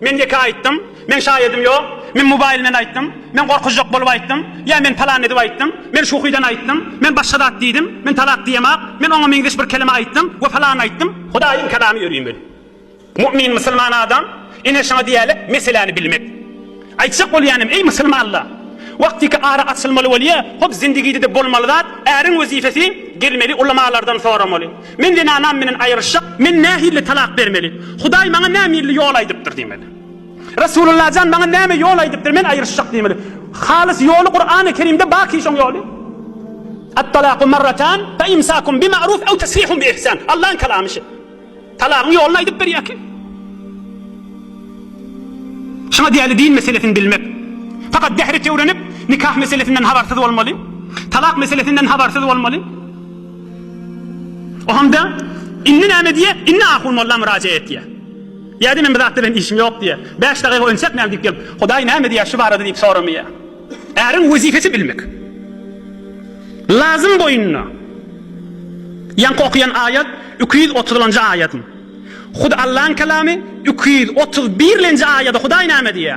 Men ýeke aýtdym, meň şaýadym ýok, men mobaýl bilen aýtdym, men gorkuzjak bolup aýtdym, ýa men palan edip aýtdym, men şuhydan aýtdym, men başga zat diýdim, men talak diýemok, men oňa meňzeş bir kelime aýtdym we palany aýtdym. Hudaýyň Kalamy ýörüň men. Mu'min, musulman adam, ine şuňa diýerler meseläni bilmek. Aýtjak bolýanym, eý musulmanlar! Wagtyky ara açylmaly bolýa, hop zindigide-de bolmaly zat, äriň wezipesi gelmeli, ulamalardan soramaly. Men zenanam menen aýryşjak, men nähili talak bermeli? Hudaý maňa nämirli ýol aýdypdyr diýmeli. Resulullajan maňa näme ýol aýdypdyr, men aýryşjak diýmeli. Halys ýoly Kurany Kerimde baky şoň ýoly. At-talaku marratan fe imsakun bi ma'ruf ew tesrihun bi ihsan. Allaň kalamy şi. Talagyň ýoluny aýdyp berýär ki. Şuňa diýeli din meselesini bilmek. Fakat dehri tewrenip nikah meselesinden habarsyz bolmaly. Talak meselesinden habarsyz bolmaly. O hamda, Indi näme diýýä? Indi ahun molla myrajaat etýä. Ýa-da Men bu zat bilen işim ýok diýýä. Bäş dagyga ön çekmän diýip gelip, Hudaý näme diýýä şu barada diýip soramaýýa. Äriň wezipesi bilmek. Lazym boýnuna. Ýaňky okaýan aýat iki ýüz otuzlanjy aýadyň. Hut Allaň kalamy iki ýüz otuz birlenji aýady Hudaý näme diýýä?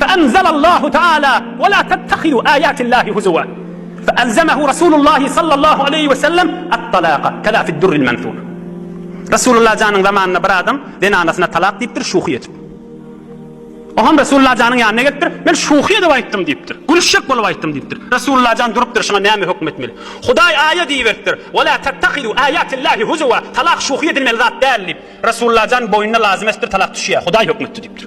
Fe enzelallahu taala, Ve la tettehidu ayatillahi huzuwa. Fe elzemehu Rasulullahi sallallahu aleyhi ve sellem et-talaka, keza fi'd-durril menthur. Rasulullah janyň zamanynda bir adam zenanasyna talak diýipdir şuhy edip. O hem Rasulullah janyň ýanyna gelipdir, Men şuhy edip aýtdym diýipdir. Gülüşjek bolup aýtdym diýipdir. Rasulullah jan durupdyr, şuňa näme höküm etmeli? Hudaý aýa diýiberipdir, Ve la tettehidu ayatillahi huzuwa, talak şuhy edilmeli zat däl diýip. Rasulullah jan boýnuna lazym etipdir, talak düşýär. Hudaý höküm etdi diýipdir.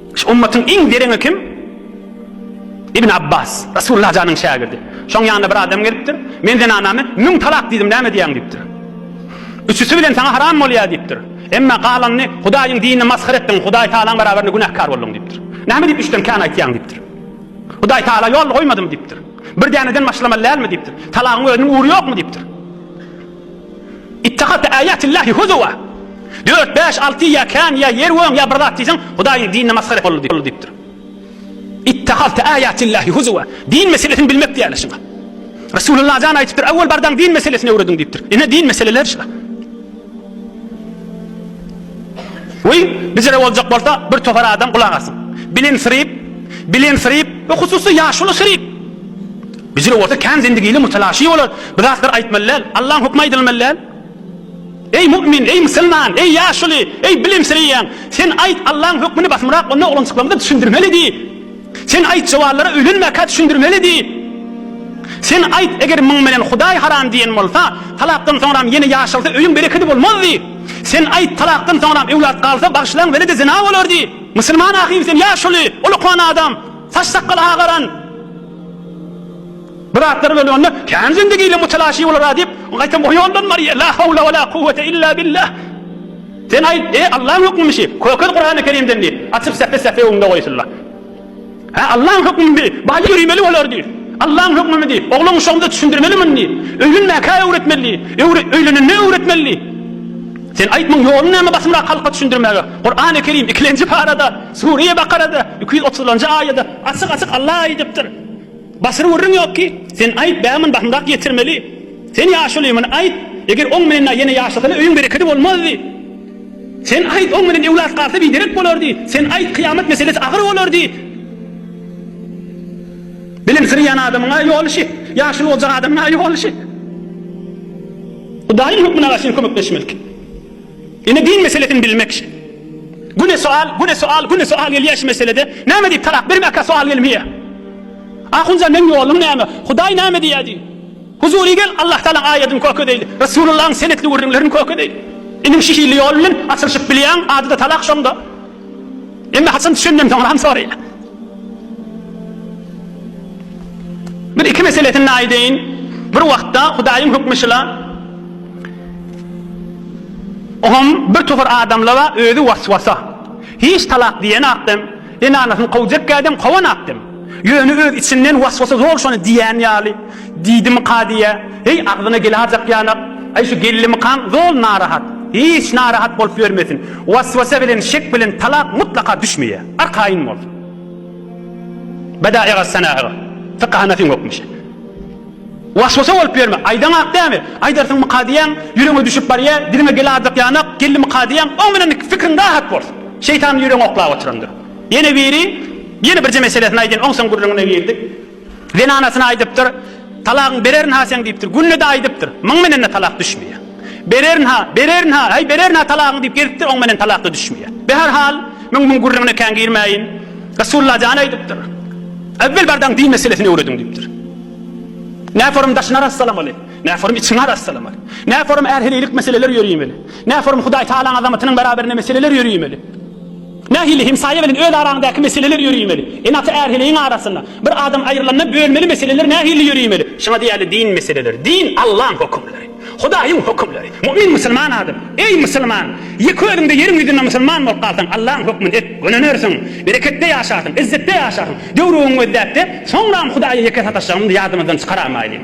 Şu ümmatyň iň dereňi kim? Ibn Abbas, Resulullah janyň şägirdi. Şoň ýanyna bir adam gelipdir. Men zenanamy müň talak diýdim, näme diýýäň diýipdir. Üçüsi bilen saňa haram bolýar diýipdir. Emma galanyny Hudaýyň dinini masgara etdiň, Hudaý Tagalaň barabarynda günäkär bolduň diýipdir. Näme diýip üçden kän aýtýaň diýipdir. Hudaý Tagala ýol goýmadym diýipdir. Bir däneden başlamaly dälmi diýipdir. Talagyň özüniň ury ýokmy diýipdir. Ittehazte âyâtillâhi huzuwa, Dört, bäş, alty, ýa kän, ýa ýer göň, ýa bir zat diýseň, Hudaýyň dinine masgara etmek boldy diýipdir. Ittehazte âyâtillâhi huzuwa, Din meselesini bilmek diýýärler şuňa. Resulullah jan aýdypdyr, Awwal bardaň din meselesini öwrediň diýipdir. Ine, din meseleleri şular. We bijire boljak bolsa, bir topar adam gulak asyn. Bilensiryp, bilensiryp we hususy ýaşuly syryp. Bijil bolsa kän zendigili, mutalaşy bolar. Bu zatlar aýtmaly däl. Allaň hökmi aýdylmaly däl. Eý mu'min, eý musulman, eý ýaşuly, eý bilimsireýän, sen aýt Allaň hökmini basymrak onda oglançyklarymyza düşündirmeli diý. Sen aýt jowanlara öýlenmäkä düşündirmeli diý. Sen aýt eger muň bilen Hudaý haram diýen bolsa, talakdan soňram ýene ýaşalsa öýüň berekedi bolmaz diý. Sen aýt talakdan soňram öwlat galsa bagyşlaň welede zina bolar diý. Musulman ahym sen ýaşuly, ol okuan adam, saç sakgaly agaran, Bu zatlar böli onda kän zindigi ile mutalaşy bolara diýip gaýtam o ýoldan barýa la howla we la kuwwete illa billah sen aýt eý Allaň hökmümi şi kökez Kurany kerimden diýip açyp säpe säpe öňde goýsunla hä Allaň hökmümi bi baýa ýöremeli bolar diýip Allaň hökmümi diýip oglan uşagymyza düşündirmeli muny diýip öýlenmäkä öwretmeli diýip öwre öýlenende öwretmeli diýip sen aýt muň ýolun näme basymrak halka düşündirmäge Kurany kerim ikilenji parada Sure-i Bakarada iki ýüz otuzlanjy aýada Açyk açyk Alla aýdypdyr. Basyr gürrüň ýok ki, sen aýt bäman bahymrak ýetirmeli. Sen ýaşuly muny aýt, eger oň menen na ýene ýaşasana öýüň berekedi bolmazdy. Sen aýt oň menen ewlat galsa biderek bolardy. Sen aýt kyýamat meselesi agyr bolardy. Bilimsirýän adamyň a ýoly şi, ýaşuly boljak adamyň a ýoly şi. Hudaýyň hökmüne garşy kömekleşmelik. Ine din meselesini bilmek şe. Güne sual, güne sual, güne sual gelýär şu meselede. Näme diýip talak bermäkä sual gelmeýär. Ahunjan meň ýoluň näme? Hudaý näme diýýär diý. Huzury gel Allah Taalaň aýadyny köke deýli. Resulullahyň senetli gürrüňlerini köke deýli. Iniň şihili ýol bilen açylyşyp bilýäň, ady-da talak şonda. Emma haçan düşündin soňram soraýar. Bir iki meselesini aýdaýyn. Bir wagtda Hudaýyň hökmi şyla. Oňam bir topar adamlara özi was-wasa. Hiç talak diýen akdem, enanasyny kowjek kädem kowan akdem. Ýöne öz içinden was-wasa zor şony diýýän ýaly. Diýdim Kadyýa, Heý, agzyna geläýjek ýanak, aý, şu gellimikaň zol narahat. Hiç narahat bolup ýörmesin. Was-wasa bilen, şek bilen talak mutlaka düşmeýär. Arkaýyn bol. Badaýyga, sanaýyga, fykaha näsiň hökmüşe. Was-wasa bolup ýörme. Aýdaňak dämi? Aýdarsyňmy Kadyýaň, ýüregiňe düşüp barýar, diliňe geläýjek ýanak, gellimika diýýäň, oň bilen fikriň rahat bolsun. Şeýtan ýüregiňi oklap oturandyr. Ýene biri ýene birje meselesini aýdýan oňson gürrüňine girdik. Zenanasyna aýdypdyr, Talagyňy bererin-ha seň diýipdir. Günde-de aýdypdyr. Myň menen-de talak düşmeýär. Bererin-ha, bererin-ha, heý bererin-ha talagyňy diýip gezipdir, oň menen talak-da düşmeýär. Be her hal, men muň gürrüňine kän girmäýin. Resulalla jan aýdypdyr, Äwwel bardagyň din meselesini öwrediň diýipdir. Näforum daşyny arassalamaly, näforum içiňi arassalamaly, näforum är-heleýlik meseleler ýöriýmeli, näforum Hudaýtagalaň azamatynyň beraberinde meseleler ýöriýmeli. Nähili hemsaýa bilen öz araňdaky meseleler ýöreýmeli? Ene-ata är-heleýiň arasynda, bir adam aýrylanda bölmeli meseleler nähili ýöreýmeli? Şuňa diýerli din meseleleri. Din, Allaň hökümleri. Hudaýyň hökümleri. Mu'min musulman adam. Eý, musulman! Ýeke özüňde ýeriň ýüzünde musulman bolup galsaň, Allaň hökmüni et, gönenirsiň, bereketde ýaşarsyň, izzetde ýaşarsyň. Döwrüňi gözläp-de, soňram Hudaýa ýeke sataşjagymyzy ýadymyzdan çykaraýmaýly.